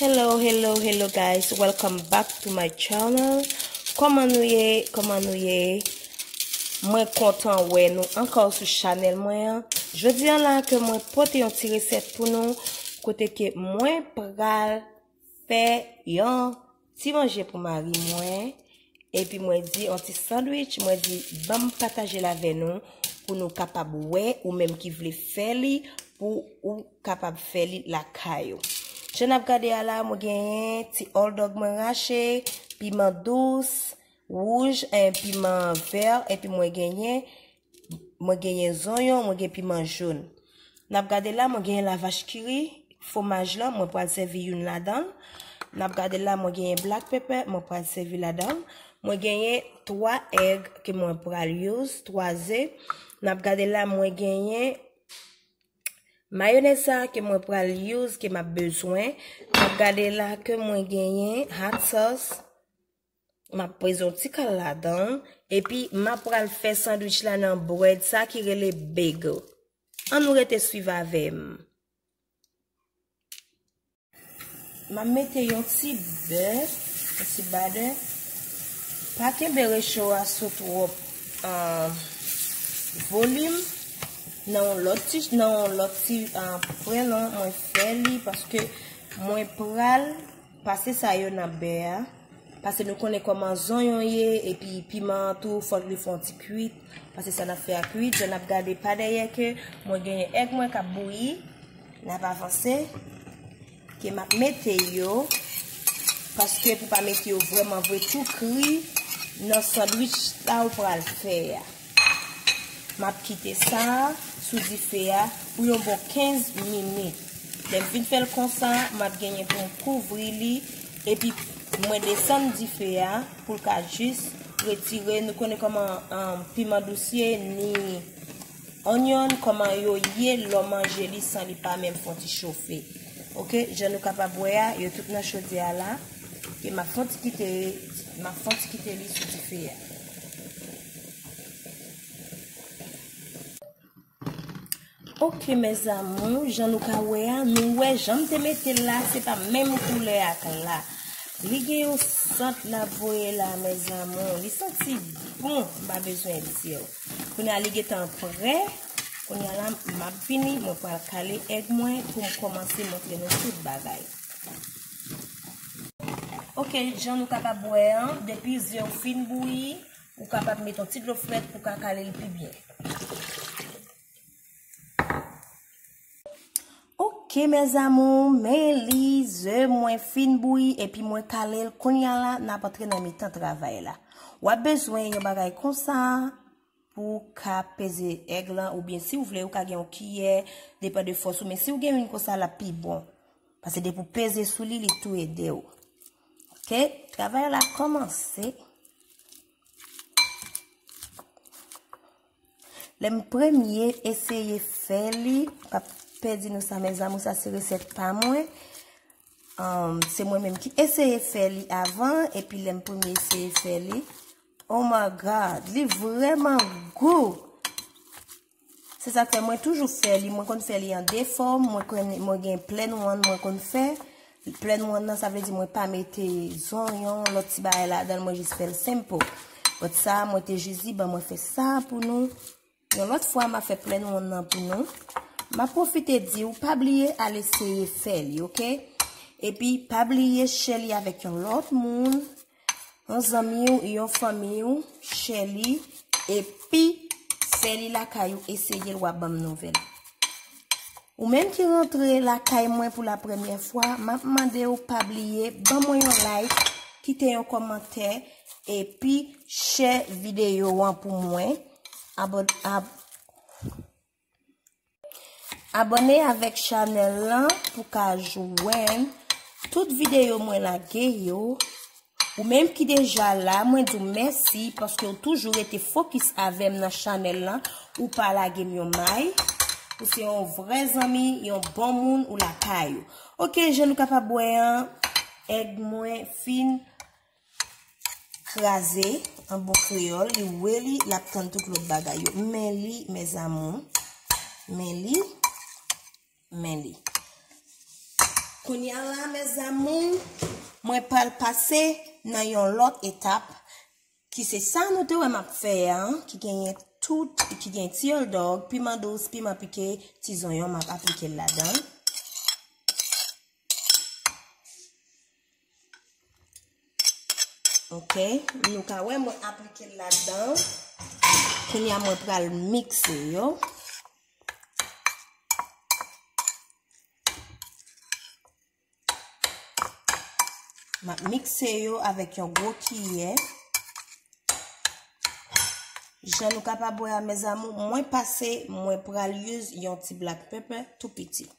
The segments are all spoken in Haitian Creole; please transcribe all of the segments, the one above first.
Hello, hello, hello guys, welcome back to my channel Koman nou ye, koman nou ye Mwen kontan wè nou anka ou sou chanel mwen an Jodi an la ke mwen pote yon ti resèt pou nou Kote ke mwen pral Fè yon ti manje pou mari mwen, epi mwen di yon ti sandwich, mwen di banm pataje l avè nou pou nou kapab wè ou menm ki vle fè li pou ou kapab fè li lakay ou. Jan n ap gade a la mwen genyen ti òldòg mwen rache, piman dous, wouj, piman vè, epi mwen genyen Mwen genyen zonyon, mwen gen piman jaune. Nap gade la mwen genyen la vache qui rit, fomaj lan mwen pral sèvi youn ladanl. Nap gade la mwen genyen black pepper mwen pral sèvi ladanl. Mwen genyen 3 egg ke mwen pral use, 3 ze. Nap gade la mwen genyen mayonez sa ke mwen pral use ke map bezwen. Nap gade la ke mwen genyen hot sauce. Map peze yon ti kal ladan l. Epi map pral fè sandwich la nan bread sa ki rele bagel. An nou rete swiv avèm. Map mete yon ti bè, yon ti badè. Pa kenbe recho a sou twop volim. Nan yon lot ti, nan yon lot ti pwen lan mwen fè li paske mwen pral. Pase sa yo nan bè a, pase nou konnen kòman zonyon ye epi piman an tou fòk li fè yon ti kuit, pase sa nap fè a kuit, jan nap gade pa dèyè ke mwen gen èg mwen kap bouyi, nap avanse ke map mete yo paske pou pa mete yo vrèman vre tou kri nan sandwich sa ou pral fè a. Map kite sa sou dife a pou yon bon 15 minit. Lèm fin fèl konsa, map genyen poum kouvri li epi mwen desann dife a poul ka jis retire, nou konnen koman piman dous ye ni onyon koman yo ye lò manje li san li pa menm fon ti chofe. Ok, jan nou kapab wè a, yo tout nan chodyè a la, map fon ti kite li sou dife a. Ok mes amour, jan nou ka wè a, nou wè jan m te mete l la, se pa menm koulè ak la. Li gen yon sant l ap voye la mes amour, li santi bon, m pa bezwen di w. Kounye a li gen tan prè, kounye a la m ap vini, mwen pral kale èg mwen pou m kòmanse montre nou tout bagay. Ok, jan nou kapab wè an, depi ze w fin bouyi, Ou kapab met yon ti dlo frèt pou ka kale l pi byen. Ok mes amour, men li, ze mwen fin bouyi epi mwen kale l. Kounya la, n ap antre nan mitan travay la. W ap bezwen yon bagay konsa pou ka peze èg lan oubyen si w vle ou ka gen yon kiyè, depan de fòs ou men si w gen youn konsa l ap pi bon. Pase depi w peze sou li, li tou ede w. Ok, travay la komanse. Lè m premye eseye fè li, pa pè di nou sa mè zamou sa se resèt pa mwen. Um, se mwen menm ki eseye fè li avan, epi lè m premye eseye fè li. Oh my God, li vreman gou! Se sak fè mwen toujou fè li, mwen konn fè li an 2 fòm, mwen konn mwen gen plain one mwen konn fè. Plain one nan sa vle di mwen pa mete zonyon, lòt ti bagay ladan mwen jis fèl simple. But sa mwen te jis di ban mwen fè sa pou nou. Yon lòt fwa ma fè plain one nan pou nou. Ma profite di ou pa bliye al eseye fè li ok. Epi pa bliye share li avèk yon lòt moun. Yon zanmi ou, yon fanmi ou, chè li, epi fè li lakay ou eseye l wap banm nouvèl. Ou menm ki rantre lakay mwen pou la premyè fwa, map mande ou pa bliye ban mwen yon like, kite yon kòmantè, epi share videyo an pou mwen. Abone avèk chanèl lan pou ka jwenn tout videyo mwen lage yo. Ou menm ki deja la, mwen di w mèsi paske ou toujou rete fokis avèm nan chanèl lan. Ou pa lage m yon may. Ou se yon vrè zanmi, yon bon moun ou lakay ou. Ok, je nou kapab wè an, èg mwen fin. kraze an bon kreyòl, li wè li, l ap tann tout lòt bagay yo. M men li, mèzamou. M men li. M men li. Kounye a la, mèzamou, mwen pral pase nan yon lòt etap ki se sa nou te wè m ap fè a, ki genyen tout, ki genyen ti ol dog, piman dous, piman pike, ti zonyon m ap aplike l ladan. Ok, nou ka wè mwen aplike l ladan. Kounya mwen pral mikse yo. Mwen mikse yo avèk yon gwo kiyè. Jan nou kapab wè a mezamou, mwen pase, mwen pral use yon ti black pepper tou piti.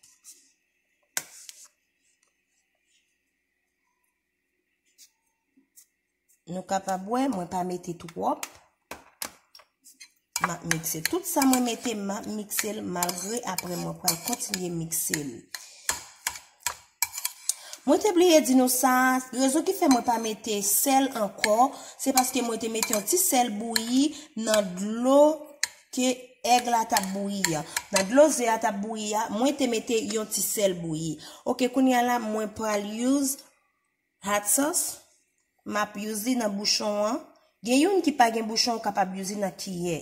Nou kapab wè, mwen pa mete twop. Map mikse. Tout sa mwen mete, map mikse l malgre apre mwen pral kontinye mikse l. Mwen te bliye di nou sa, rezon ki fè mwen pa mete sèl ankò, se paske mwen te mete yon ti sèl bouyi nan dlo ke èg la tap bouyi ya nan dlo ze a tap bouyi ya mwen te mete yon ti sèl bouyi ok kounya la mwen pral use hot sauce map use li nan bouchon an gen youn ki pa gen bouchon ou kapab use li nan kiyè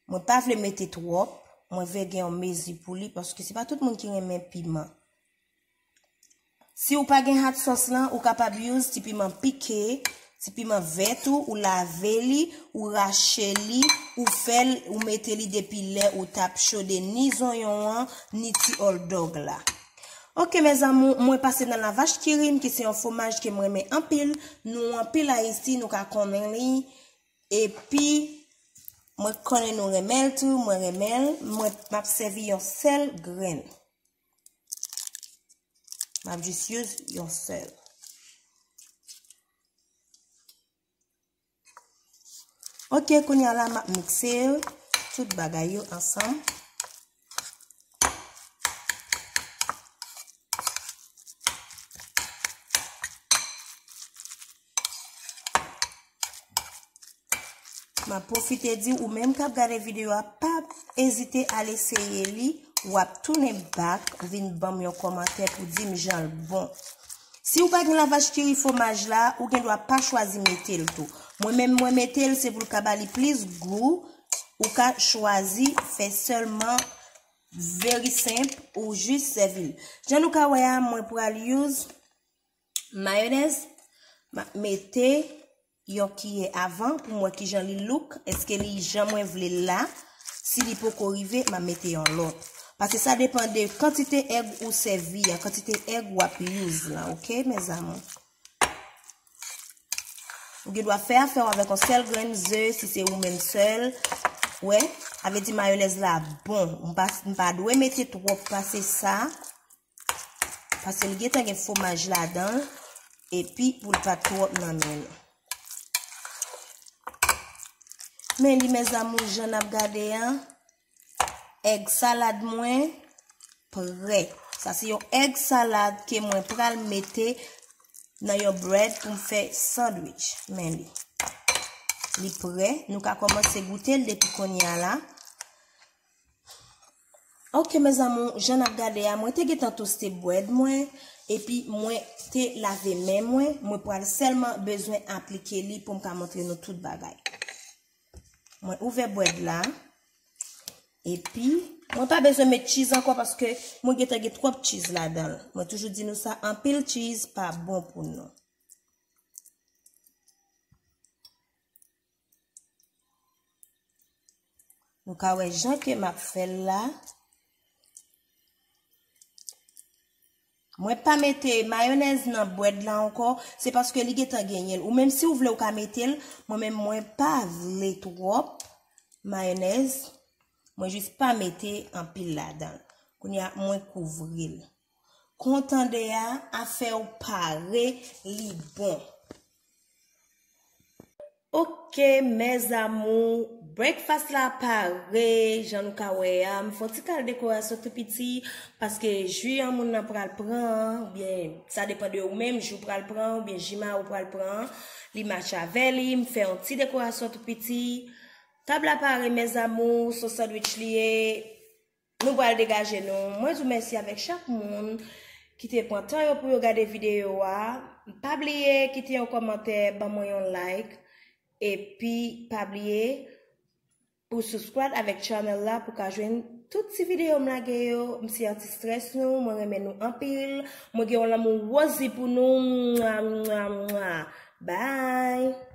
mwen pa vle mete twòp mwen vle gen yon mezi pou li paske se pa tout moun ki renmen piman Si ou pa gen hot sauce lan, ou kapab use ti piman pike, ti piman vèt ou, ou lave li, ou rache li, ou fèl, ou mete li depi lè ou tap chode ni zonyon an, ni ti hot dog la. Ok mes amours, mwen pase nan la vache qui rit m ki se yon fwomaj ke m renmen anpil, nou anpil Ayisyen nou ka konnen li, epi mwen konnen nou renmen l tou, mwen renmen l, mwen map sèvi yon sèl grenn. Map jis youz yon sèl. Ok, kounye ala map mikse tout bagay yo ansanm. Ma pwofite di ou menm kap gade videyo a, pa ezite al eseye li, wap tounen bak, vin banm yon komantè pou dim jan l bon. Si ou pa gen lavach ki ri fomaj la, ou gen dwa pa chwazi mete l tou. Mwen menm mwen mete l, se pou l ka ba li plis gou, ou ka chwazi fè selman veri senp ou jis sèvi l. Jan nou ka wè a, mwen pral use. Mayonèz, m ap mete yon kiyè avan pou m wè kijan li look. Eske li jan mwen vle l la. Si li poko rive, m ap mete yon lòt. Pase sa depan de kantite èg ou sèvi a, kantite èg w ap use la, ok mèzamou. Ou gen dwa fè afè w avèk yon sèl grenn ze, si se ou menm sèl. Wè, sa vle di mayonèz la bon. M pa dwe mete twòp pase sa. Paske li gentan gen fwomaj ladan l. Epi pou l pa twòp nan men nou. Men li mèzamou jan n ap gade an. Èg salad mwen prè. Sa se yon èg salad ke mwen pral mete nan yon bread pou m fè sandwich. Men li. Li prè. Nou ka kòmanse goute l depi kounye a la. Ok mes amour, jan nap gade a, mwen te gentan toste bread mwen, epi mwen te lave men mwen, mwen pral selman bezwen aplike li poum ka montre nou tout bagay. Mwen ouvè bread la, epi mwen pa bezwen met cheese anko paske mwen gentan gen twop cheese ladanl. Mwen toujou di nou sa, anpil cheese pa bon pou nou. Nou ka wè jan ke m ap fè l la. Mwen pa mete mayonèz nan bwèd la ankò, se paske li gentan genyen l. Ou menm si ou vle ou ka mete l, mwen menm mwen pa vle twòp mayonèz. Mwen jis pa mete anpil ladan l. Kounya mwen kouvri l. Kontande a afè ou pare li bon. Ok mes amour breakfast la pare jan nou ka wè a m fon ti kal dekorasyon tou piti paske ju an moun nan pral pran an ou byen sa depan de ou menm ju pral pran an ou byen ji ma ou pral pran an li match avè li m fè yon ti dekorasyon tou piti tab la pare mes amour son sandwich li ye. Nou pral degaje nou. Mwen di w mèsi avèk chak moun ki te pran tan yo pou yo gade videyo a. Pa bliye kite yon kòmantè, ban mwen yon like. Epi pa bliye pou subscribe avèk channel la pou ka jwenn tout ti videyo m lage yo. M se anti stress nou, mwen renmen nou anpil. Mwen gen yon lanmou Rosie pou nou. Mwa mwa mwa. Bye!